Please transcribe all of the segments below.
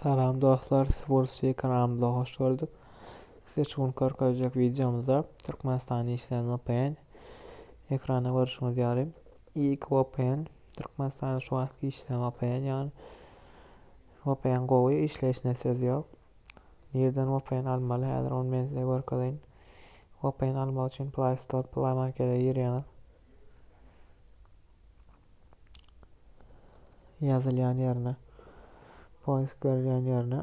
Salam dostlar, Sports TV kanalymyza hoş geldik. Size şu gün görkezjek videomyzda Türkmenistanda işleýän VPN. Ekranda görüşüňiz ýaly, ilk VPN Türkmenistanda şu wagtky işleýän VPN ýaly. VPN gowy işleýşine söz ýok. Nirden VPN almaly? Häzir ony men size görkezeýin. VPN almak üçin Play Store, Play Markete girýäňiz. ýazylýan ýerine poýsk berilýän ýerine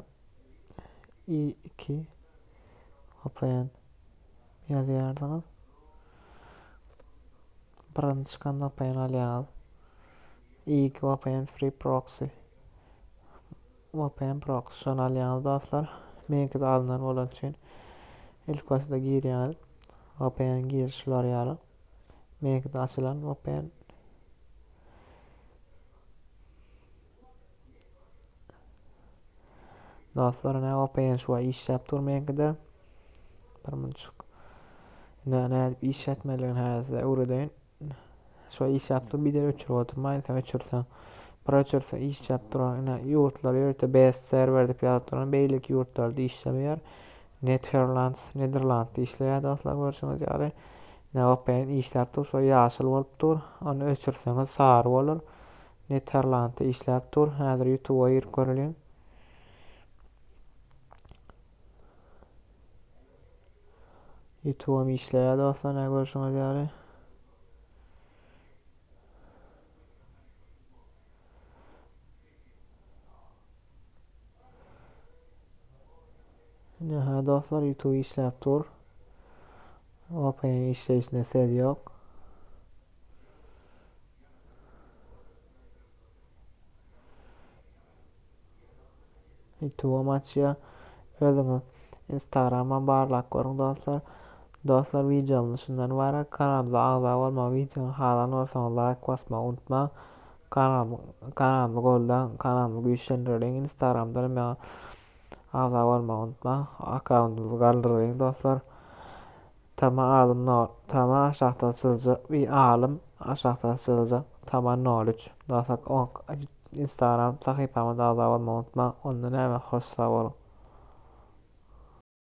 i iki vpn ýazýardyňyz birinji çykan vpn alýaňyz i iki vpn free proxy vpn proxy şony alýaňyz dostlar meňkide alnan bolany üçin ilkibaşda girýäňiz vpn giriş ularýalar Meýgide açylan Open Dostlar ne OPN şu an işläp dur meňkide. Bir munçuk. Ne ne edip işletmeliň häzir öwredeýin. Şu işläp dur bir de öçürip oturmaýyn sen öçürsen. Bir öçürsen işläp duran ine ýurtlar ýörte BS serwer dip ýazyp duran beýleki ýurtlarda işlemeýär. Netherlands, Niderland işleýär dostlar görşüňiz ýaly. Neopen işläp dur, şo ýaşyl bolup dur. Ony öçürseňiz sary bolar. Netherland işläp dur. Häzir YouTube-a girip göreliň. YouTube-am işleýär dostlar, näme görşüňiz ýaly. Ine ha dostlar YouTube işläp dur. Open işleýişine söz ýok. YouTube açýa. Özüňiz Instagram'a barlak görüň dostlar. Dostlar videomyz şundan ibarat. Kanalda agza bolmagy, videony halan bolsaňyz like basmagy unutmaň. Kanalymy goldaň kanalymy güýçlendiriň instagramdanam maňa agza bolmagy unutmaň akkauntymyzy galdyryň dostlar Tama alym no tama aşakdan çyzjak bir alym aşakdan çyzjak tama nol üç dostlar instagram sahypama agza bolmagy unutmaň onda näme hoş sag boluň